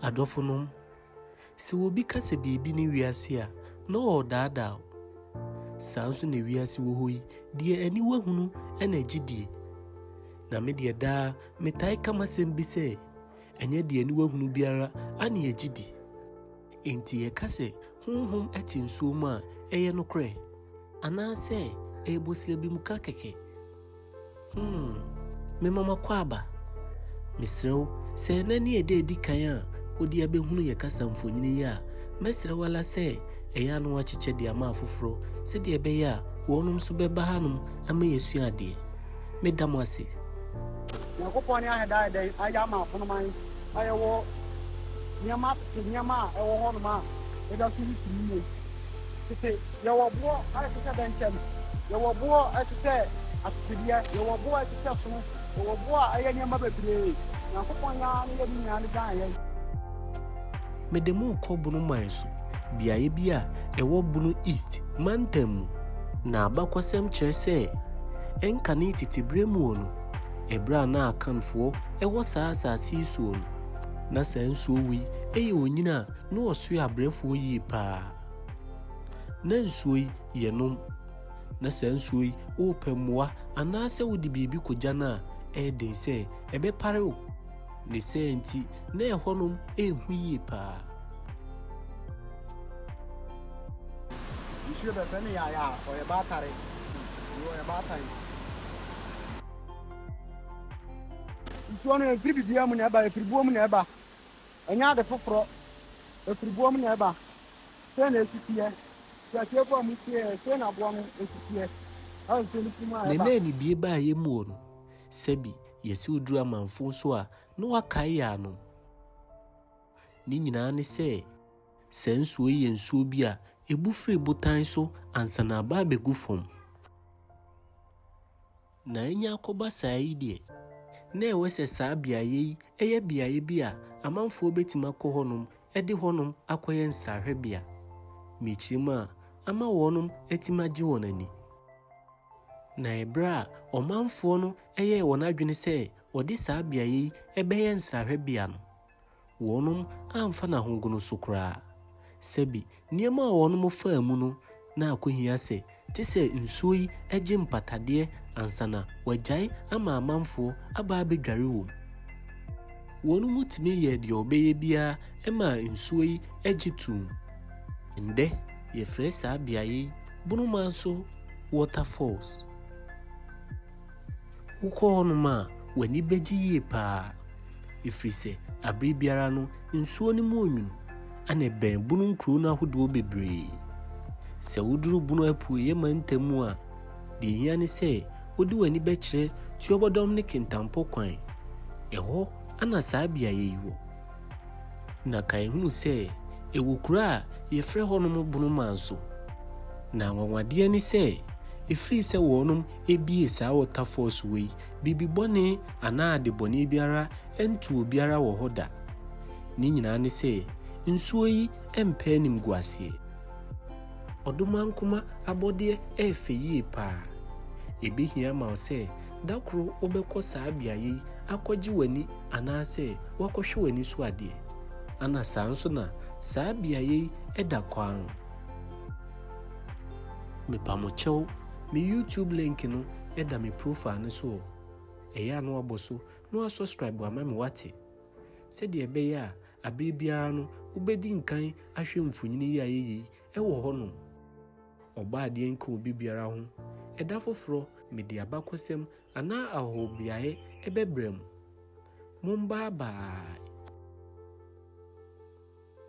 Adɔfonom, sɛ obi ka sɛ biribi ne wiase a, na ɔredaadaa wo. Saa nso na wiase wɔ hɔ yi, deɛ aniwa hunu na ɛgye die. Na me deɛ daa metae ka m'asɛm bi sɛ, ɛnyɛ deɛ aniwa hunu biara ane ɛgye di. Enti yɛka sɛ honhom te nsuo mu a, ɛyɛ nokorɛ? Anaasɛ ɛyɛ bɔsirabimuka kɛkɛ? Hmm, mema m'akwaaba. Mesrɛ wo, sɛ ɛnnɛ ne ɛda a edi kan a wode abɛhunu yɛn kasa mfonini yi a, mɛsrɛ wo ara sɛ ɛyɛ a na woakyekyɛ de ama afoforo sɛdeɛ ɛbɛyɛ a wɔnom nso bɛba hanom ama yɛasua adeɛ. Meda mo ase. Nyankopɔn ne ahɛ daayɛ dɛn ayɛ ama afonoman a yɛwɔ nneɛma tete nneɛma a ɛwɔ hɔnom a yɛda so resua mu nnɛ yi? Tete, yɛwɔ boɔ a ɛte sɛ bɛnkyɛm, yɛwɔ boɔ a ɛte sɛ ahwehwɛdeɛ, yɛwɔ boɔ a ɛte sɛ sono, yɛwɔ boɔ a ɛyɛ nneɛma bebree. Nyankopɔn yi ara ne yɛ ne nyinaa de dan yɛn. Mede mo rekɔ Bono man so, beaeɛ bi a ɛwɔ Bono East mantam mu. Na abakɔsɛm kyerɛ sɛ, ɛnkane tete berɛ muo no, ɛberɛ a na Akanfoɔ wɔ saa asaase yi soɔ no, na saa nsuo wei yɛ onyini a Na ɔsoɛ abrɛfoɔ yie paa. Na nsuo yi, yɛnom. Na saa nsuo yi, worepɛ mmoa anaasɛ wode biribi kɔgya no a, ɛyɛ den sɛ ɛbɛpare wo. Ne saa nti, na ɛhɔnom yɛ hu yie paa. Nsuo bɛfɛ no yaya a, ɔyɛ baatare. Wei ɔyɛ baatan. Nsuo no, ɛmfiri biribiara mu na ɛba, ɛfiri boɔ mu na ɛba. Ɛnyɛ ade foforɔ, ɛfiri boɔ mu na ɛba. Sei na ɛsi teɛ, firi atiefoɔ a motieɛ, sei na boɔ no si teɛ, ɛwɔ nsuo no funu mu a ɛba. Nna ni bie baa yɛ muo no, sɛbi yɛse oduru amanfoɔ so a na wakae yɛ ano. Ne nyinaa ne sɛ, saa nsuo yi yɛ nsuo bi a ɛbu firi botan so ansa na aba abɛgu fam. Na anya akɔba saa yi deɛ, na ɛwɛ sɛ saa beaeɛ yi yɛ beaeɛ bi a amanfoɔ bɛtumi akɔ hɔnom de hɔnom akɔyɛ nsrahwɛbea, mekyiri mu a, ama wɔnom atumi agye wɔn ani. Na ɛberɛ a ɔmanfoɔ no yɛɛ wɔn adwene sɛ wɔde saa beaeɛ yi bɛyɛ nsrahwɛbea no, Wɔnom amfa n'ahogono so koraa. Sɛbi, nneɛma a wɔnom faa mu no na akohia sɛ te sɛ nsuo yi gye mpatadeɛ ansa na wɔagyae ama amanfoɔ aba abɛdware wɔ mu. Wɔnom tumi yɛɛ deɛ wɔbɛyɛ biara maa nsuo yi gye toom. Ndɛ yɛfrɛ saa beaeɛ yi Bonomanso Waterfalls. Wokɔ hɔnom a, w'ani bɛgye yie paa, ɛfiri sɛ aberɛ biara no nsuo no mu onwunu, ɛna ɛbɛn Bunu nkuro no ahodoɔ bebree. Sɛ woduru Bunu apueeɛ mantam mu a, deɛ ɛhia ne sɛ wode w'ani bɛkyerɛ Tuobodom ne Kintampo kwan. Ɛhɔ na saa beaeɛ yi wɔ. Na kae hunu sɛ ɛwɔ kuro a yɛfrɛ hɔnom Bunu Manso. Na anwanwadeɛ ne sɛ, ɛfiri sɛ wɔnom Ebie saa wɔtafɔɔso wei, biribi bɔne anaa ade bɔne biara nto obiara wɔ hɔ da. Ne nyinaa ne sɛ, nsuo yi mpɛ animguaseɛ. Ɔdomankoma abɔdeɛ yɛ fɛ yie paa. Ɛbɛhia ama wo sɛ da koro wobɛkɔ saa beaeɛ yi akɔgye w'ani anaasɛ woakɔhwɛ w'ani so adeɛ. Ana saa nso na saa beaeɛ yi da kwann. Mepa mo kyɛw. Me YouTube link no da me profile no so o, ɛyɛ a na wabɔ so na wasɔscribe ama me wate? Sɛdeɛ ɛbɛyɛ a abere biara no wobɛdi nkan ahwɛ mfonini yi a ɛyɛ yei ɛwɔ hɔ nom. Ɔbɔ adeɛ nka obi biara ho, ɛda foforɔ mede abakɔsɛm anaa ahɔhobeaeɛ ɛbɛbrɛ mo. Mombaa bye.